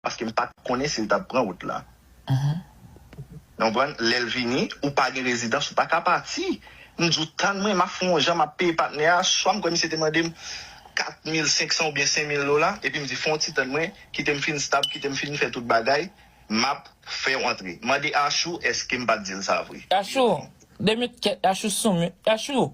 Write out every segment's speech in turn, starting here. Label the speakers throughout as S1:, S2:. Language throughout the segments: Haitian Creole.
S1: Paske m pat konnen si l tap pran wout la. Nou konprann? Lè l vini, ou pa gen rezidans, ou pa ka pati. M di w, tann mwen, m ap fon yon jan, m ap peye patnè a, swa m kwè misye te mande m 4500 oubyen 5000 dola, epi m di fon w ti tann mwen, kite m fin stab, kite m fin fè tout bagay, m ap fè w antre. Mande Ashou eske m pat di l sa vre. Ashou! 2
S2: minit kèt, Ashou sou mute, Ashou!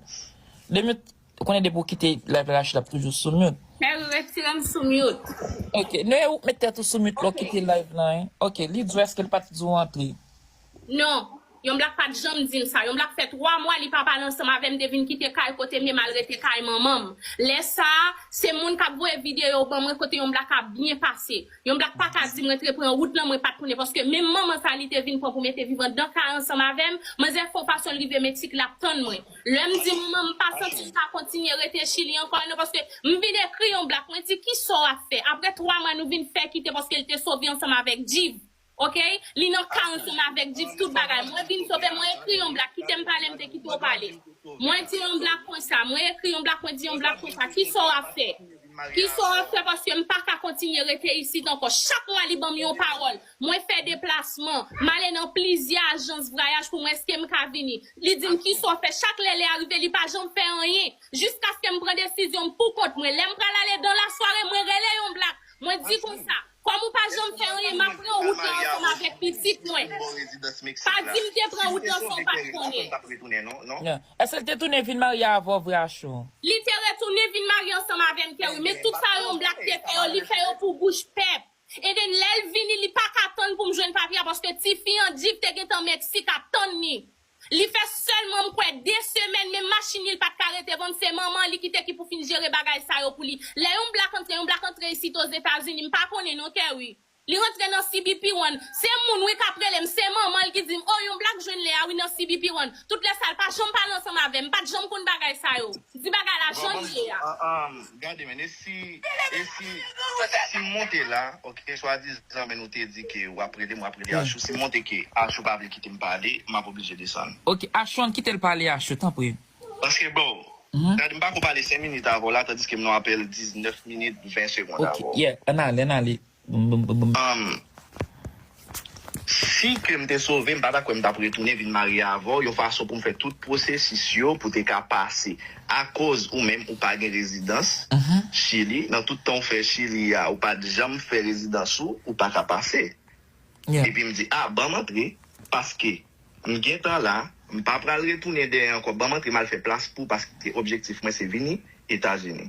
S2: 2 minit Ou konnen depi ou kite live Rachid lap toujou sou mute. Perry retirem
S3: sou mute. Ok Noe ou
S2: k met tèt ou sou mute lè ou kite live lan wi. Ok li di w eske l pat di w antre. Non
S3: Yon blak pat janm dim sa Yon blak fè 3 mwa li pa pale ansanm avèm de vin kite kay kote m ye mal rete kay manmanm lè sa se moun kap voye video ban mwen kote Yon blak ap byen pase Yon blak paka dim rentre pran wout lan mwen pat konnen paske menm manman sa li te vin pran pou mete viv andan kay ansanm avèm manzè fon fason l rive meksik lap tann mwen Lè m di mwen m pa santi m ka kontinye rete Chili ankò e non paske m vin ekri yon black mwen di kisa w ap fè aprè 3 mwa nou vin fè kite paske l te sove ansanm avèk Djiv ok li nan ka ansanm avèk Djiv tout bagay mwen vin sove mwen ekri yon black kite m pale m te kite w pale mwen di yon black konsa mwen ekri yon black mwen di yon black konsa kisa w ap fè kisa w ap fè paske m pa ka kontinye rete isit ankò chak mwa li ban m yon pawòl Mwen fè deplasman, m ale nan plizyè ajans vrayaj pou m wè èske m ka vini. Li di m kisa w fè, chak lè lè a rive li pa janm fè anyen. Jiskaske m pran desizyon m pou kont mwen. Lè m pral ale dan lasware mwen rele yon blak, mwen di konsa, kòm ou pa janm fè anyen m ap pran wout la ansanm avèk pitit mwen. Pa di m te pran wout lan san w pa t konnen. Èske
S2: l te tounen vin marye avè w vre Ashou? Li te retounen
S3: vin marye ansanm avè m Kerry, men tout sa yon blak te fè yo li fè yo pou bouch pèp. Enben lè l vini li pa ka tann pou m jwenn papye a paske tifi an di l te gentan Meksik ap tann li. Li fè sèlman m kwè de semèn menm machin li l pa t ka rete vann se manman li ki te ki pou fin jere bagay sa yo pou li. Lè yon blak antre yon blak antre isit Ozetazini m pa konnen non Terry. Li rantre nan CBP one se moun wi k ap rele m se manman l ki di m oh yon blak jwenn Lea wi nan CBP one tout lè sa l pa janm pale ansanm avè m m pa t janm konn bagay sa yo. Di bagay la jan l ye a. Gade men e
S1: si e si si monte la ok swa dizan men nou te di ke wap rele m wap rele Ashou si monte ke Ashou pa vle kite m pale map oblije desann. Ok Ashou an kitel
S2: pale Ashou tanpri. Paske bro
S1: gade m pako pale 5 minit avèw la tandiske m nan apèl 19 minit 20 segond avèw. Ok yeah an ale an
S2: ale. Humm
S1: si ke m te sove m pa ta kwè m tap retounen vin marye avèw yon fason pou m fè tout pwosesis yo pou te ka pase akoz ou menm ou pa gen rezidans chili nan tout tan ou fè chili a ou pat janm fè rezidans ou ou pa ka pase epi m
S2: di a banm
S1: antre paske m gentan la m pa pral retounen dèyè ankò banm antre m al fè plas pou paske objektif mwen se vini etazini.